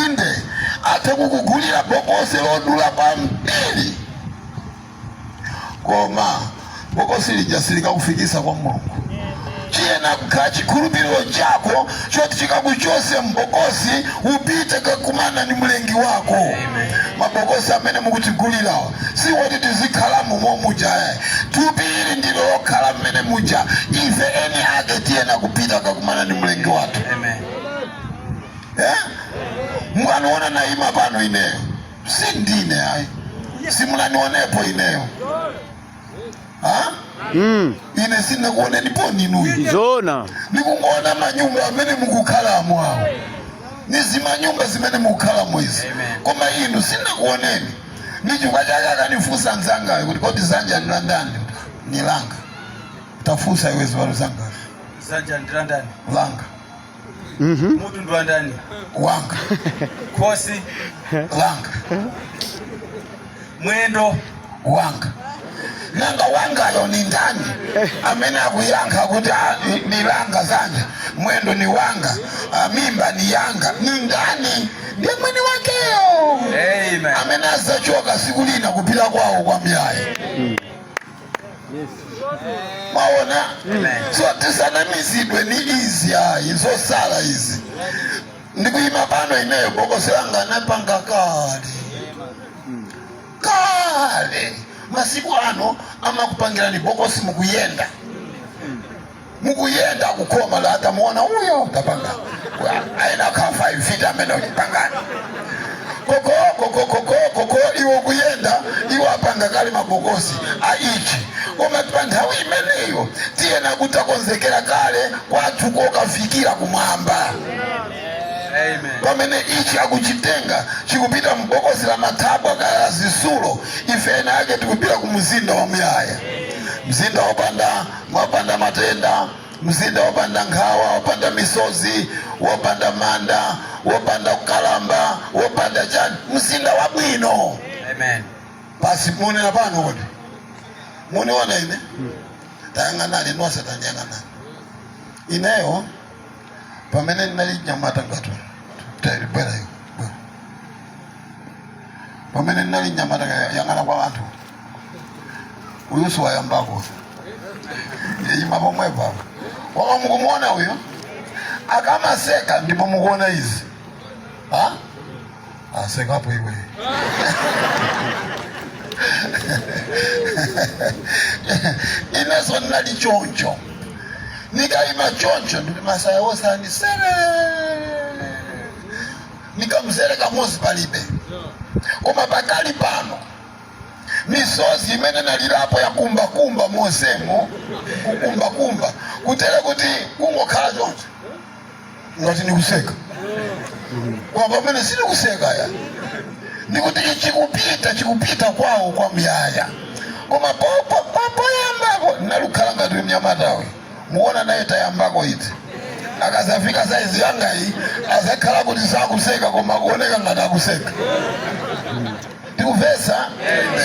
inde athe kukugulira bokosi lodula kwambiri koma bokosi lija silikakufikisa kwa mulungu chiyena kukhala chikhulupiriro chako choti chikakuchose mbokosi upite kukakumana ndi mlengi wako mabokosi amene mukutigulirawa si woti tizikhalamo momuja yayi thupi ili ndilo lokhala mmene muja ife eni ake tiyena kupita kukakumana ndi mlengi wathu Amen. eh? mukaniona naima pano ineyo si ndine ayi simunanionepo ineyo ha? Mm. ine sinakuonenipo inuyo Zona. ndikungoona manyumba amene mukukhalamo awo ni zimanyumba zimene mukukhalamo izi koma inu sinakuoneni ndi chifukwa chake akanifunsa mzangayo kuti kodi zanja ni landani? ni langa tafunsa iwe ziwalo zakozo Zanja ndi landani. langa mutu ndi wandani wanga khosi langa mwendo wanga nanga wangayo ni ndani amene akuyankha kuti Ah, ni- ni langa zanja mwendo ni wanga ah, mimba ni yanga ni ndani ndi mwini wakeyo Amen. amene azachoka siku lina kupita kwawo kwa muyaya mwaona so tisanamizidwe ni izi ayi zosala izi ndikuyima pano ineyo bokosi langa anapanga kale kale masiku ano amakupangirani bokosi mukuyenda mukuyenda kukhoma la tamuona uyo tapanga ayenera akhale 5 feet ameneyu chipangani koko koko koko koko iwo kuyenda iwo apanga kale mabokosi a ichi koma pa nthawi imeneyo tiyena kuti takonzekera kale kwathu kokafikira kumwamba pamene ichi akuchitenga chikupita mbokosi la matabwa kaya la zisulo ife eni ake tikupita ku mzinda wa muyaya mzinda wopanda wopanda matenda, mzinda wopanda nkhawa, wopanda misozi, wopanda manda, wopanda kukalamba, wopanda chani, mzinda wabwino. Amen. Basi muonera pano kodi muniona ine tayang'anani nonse tanyang'anani ineyo pamene ndinali nyamata ngati talibwera iyo pamene ndinali nyamata yang'ana kwa anthu uyu siwayambako yima pomwepa wama mukumuona uyu akamaseka ndipo mukuona izi ha asekapo iwe ineso ndinali choncho nikayima choncho ndi masaya wosanisera nikamzere kamozi palibe koma pakali pano misozi imene nalirapo ya kumbakumba mozemo kukumbakumba kutere kuti kungokhala choncho ngati ndikuseka koma pamene sindikuseka ya ndikuti chikupita chikupita kwawo kwa muyaya koma popo popoyambako nalukhala ngati mnyamatawe muonanaye tayambako iti akazafika saizi yangayi azakhala kuti sakuseka koma akuoneka ngati akuseka tikuvesa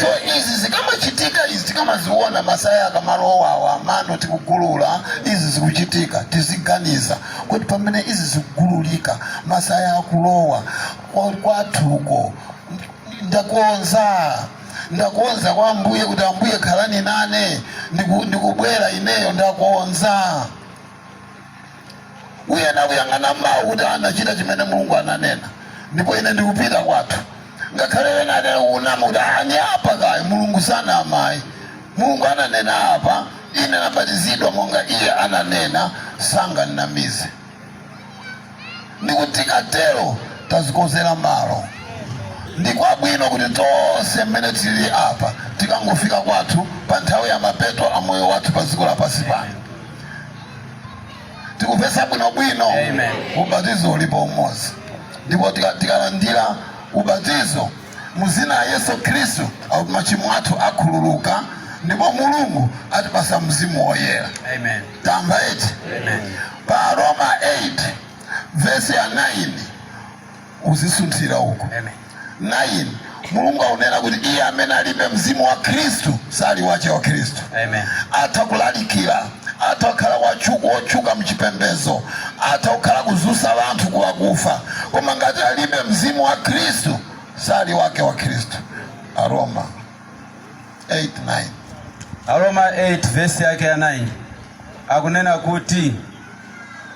so izi zikamachitika izi tikamaziona masaya akamalowawa mano tikugulula izi zikuchitika tiziganiza kuti pamene izi zikugululika masaya akulowa kwa- kwathuko ndakonza ndakonza kwa ambuye kuti ambuye khalani nane ndiku- ndikubwera ineyo ndakonza uyena kuyang'ana mawu kuti anachita chimene mulungu ananena ndipo ine ndikupita kwathu ngakhale ena anena unama kuti ani apa kayi mulungu sanama ayi mulungu ananena apa ine nabatizidwa monga iye ananena sanganamize ndipo tikatero tazikonzera malo ndi kwabwino kuti tonse mmene tili apa tikangofika kwathu pa nthawi ya mapeto a moyo wathu pa dziko lapansi pano tikapeza bwinobwino ubatizo ulipo umodzi ndipo tikalandira ubatizo mu dzina la yesu khristu machimo athu akhululuka ndipo mulungu atipasa mzimu woyera tamva eti pa Aroma 8 vesi ya 9 uzisunthira uko 9 mulungu akunena kuti iye amene alibe mzimu wa khristu sali wache wa khristu Amen. atha kulalikira atha kukhala wotchu- wotchuka mchipembezo atha kukhala kuzusa wanthu kwa akufa koma ngati alibe mzimu wa khristu sali wake wa khristu aroma 8 9 aroma 8 vesi yake ya 9 akunena kuti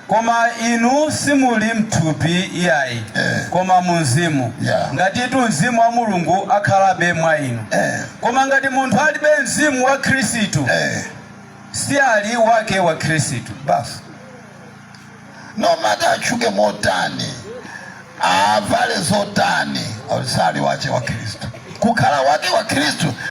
Koma inu simuli m'thupi iyayi, Eh. koma mu mzimu, Yeah. ngatitu mzimu wa Mulungu akhalabe mwa inu. Eh. Koma ngati munthu alibe mzimu wa Khristu, Eh. si ali wake wa Khristu. basi no matter atchuke motani avale zotani sali wache wa khristu kukhala wake wa khristu